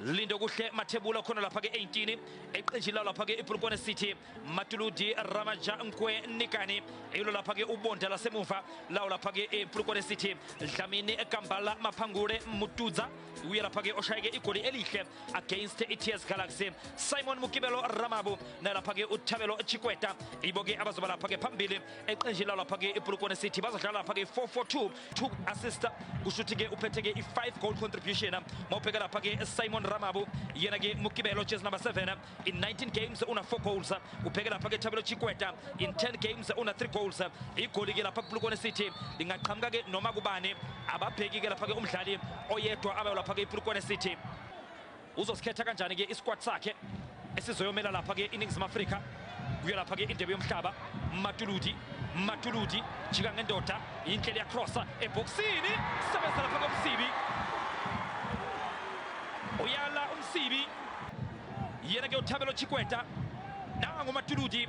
Lindo kuhle mathebula khona lapha ke-18 eqenjini lawo lapha ke-ibulukwane city matuludi ramaja nkwe nikani ilo lapha ke ubonda lasemuva lawo lapha ke-ibulukwane city dlamini gambala maphangule mutudza uye lapha ke oshayeke igoli elihle against i-ts galaxy simon mukibelo ramabu nalapha ke uthabelo chikweta ibo ke abazoba lapha ke phambili eqenjini lawo lapha ke-ibulukwane city bazodlala lapha ke-442 two assist kusho ukuthi-ke uphethe-ke i-five goal contribution mawubheka lapha-ke simon ramabu yena-ke mukibelo jezi number 7 in 19 games una-four goals ubheke lapha-ke thabelo chikweta in 10 games una-three goals igoli-ke lapha kublukone city lingaqhamuka-ke noma kubani ababheki-ke lapha-ke umdlali oyedwa abayo lapha-ke iblukone city uzosikhetha kanjani-ke isikwati sakhe esizoyomela lapha-ke iningizimu afrika kuyo lapha-ke indebe yomhlaba matuludi matuludi jika ngendoda yinhlelo yakrosa ebhokisini sebenza lapha komsibi uyala umsibi yena ke uthabelo chikweta nangumatuludi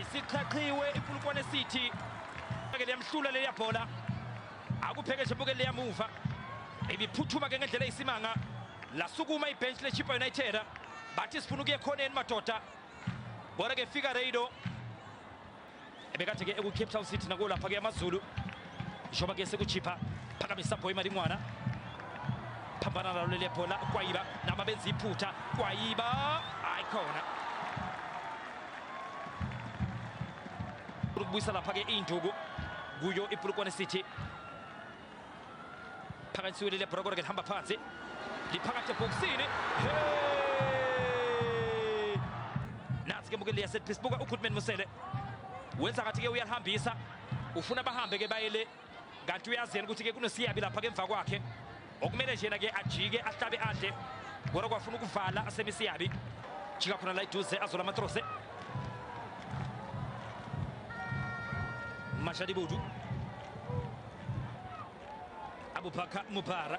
isiqhaqhiwe iPulukwane City ke liyamhlula leya bhola akupheke nje buke leyamuva ibiphuthuma ke ngendlela eyisimanga lasukuma ibench leChippa United bathi sifuna ukuye khoneni madoda bora ke fika Reido ebekade ke eku Cape Town City nakulapha ke amaZulu zvoba kese kuchipa phakamisa bhoi mari mwana phambana nalo leli bhola kwayiba naba benza iphutha kwayiba hayi khona ukubuyisa lapha-ke iy'nduku kuyo ipulukwane city phakanyisiwe leli bhora kodwa ke lihamba phansi liphakathi ebhokisini nansi ke mukeli yasetpisbuka ugoodman musele wenza ngathi-ke uyalihambisa ufuna bahambe ke baye le kanti uyazi yena ukuthi ke kunosiyabi lapha ke emva kwakhe okumele nje yena ke ajike ahlabe adle kodwa kwafuna ukuvala asemisiyabi jika khona la iduze azola amatrose mashadi budu abubakar mubara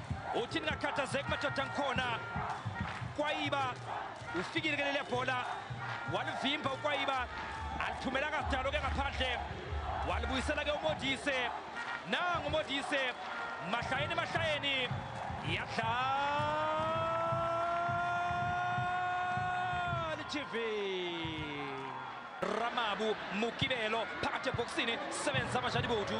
uthi ningakhathazeki madoda ngikhona kwayiba ufikile ke leliya bhola walivimba ukwayiba alithumela kasidalo ke ngaphandle walibuyisela ke umodise nangu umodise mahlayeni mahlayeni iyadlala tv ramabu mukibelo phakathi ebhokisini sebenza amashadibodu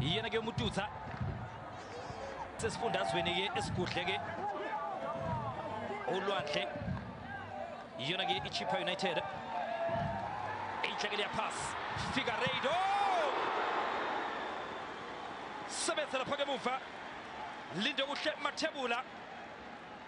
iyena-ke umututsa sesifundazweni-ke esigudle-ke ulwandle iyona-ke ichippa united inhlekele yaphas figareido sebenzela phake emuva linde kuhle mathebula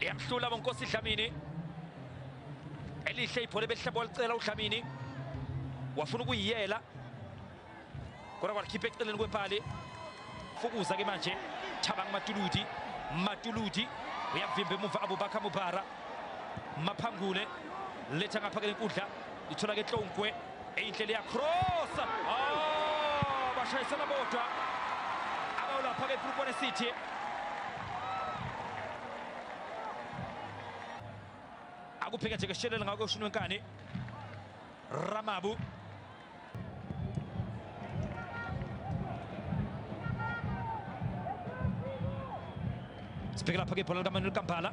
liyamhlula bonkosi dlamini elihle ibhola ebelihlaba walicela udlamini wafuna ukuyiyela kodwa kwalikhipha eceleni kwepali fukuza ke manje thabang matuludi matuludi uyavimba emuva abubakha mubhara maphangule letha ngapha ke lenkundla ithola ke tlongwe Inhle liya cross. Oh, bashayisana bodwa. Abawulapha ke Phupone City. Akuphika nje keshelela ngakho ushini wenkani. Ramabu. Sibheke lapha ke ibhola likaManuel Kampala.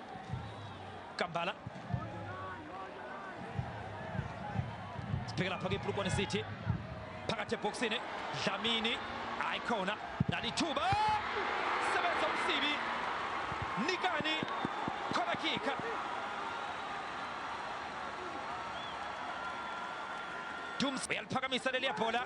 Kambala sipheke lapha kwiPlukwane City phakathi ebhoksini Dlamini hayi khona nalithuba sebenza umsibi nikani khona kika Dums uyaliphakamisa leli yabhola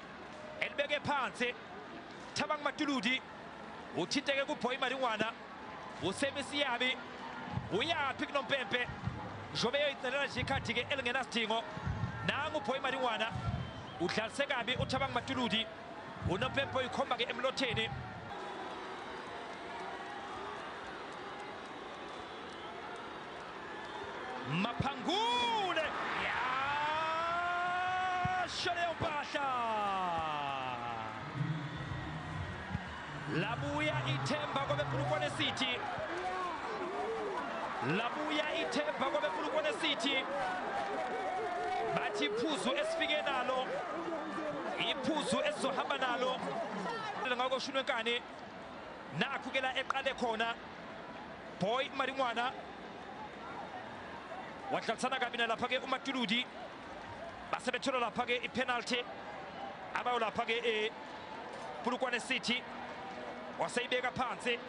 elibeke phansi thabang matuludi uthinteke kubhoyi malingwana usemisiyabi uyaphi kunompempe njengoba eyoyicelela nje ikhathi-ke elingenasidingo nangu ubhoyi malingwana udlalise kabi uthabang matuludi unompempe oyikhomba-ke emlotheni Mapangule! Yasho leyo mpahla! Labuya ithemba kwabePulukwane City. Labuya ithemba kwabePulukwane City. Bathi iphuzu esifike nalo. Iphuzu esizohamba nalo. Ngakho Shunwenkani nakho ke la eqale khona boy maringwana wadlalisana kabi nalapha-ke umatuludi basebethola lapha-ke ipenalty abayo lapha-ke epulukwane eh, city waseyibeka phansi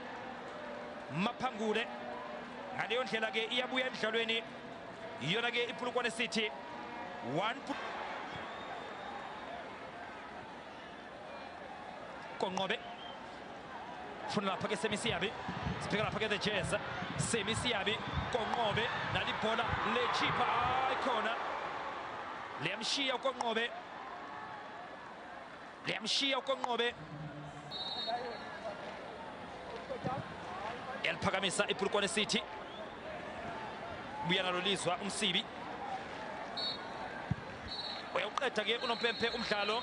maphangule ngaleyo ndlela-ke iyabuya emdlalweni iyona-ke ipulukwane city one konqobe funa lapha ke semisiyabi sibheka lapha ke the jazz semisiyabi konqobe nalibhola lechipha hayi khona liyamshiya ukonqobe liyamshiya ukonqobe yaliphakamisa ipulukwane city buya nalo lizwa umsibi uyawuqeda ke unompempe umdlalo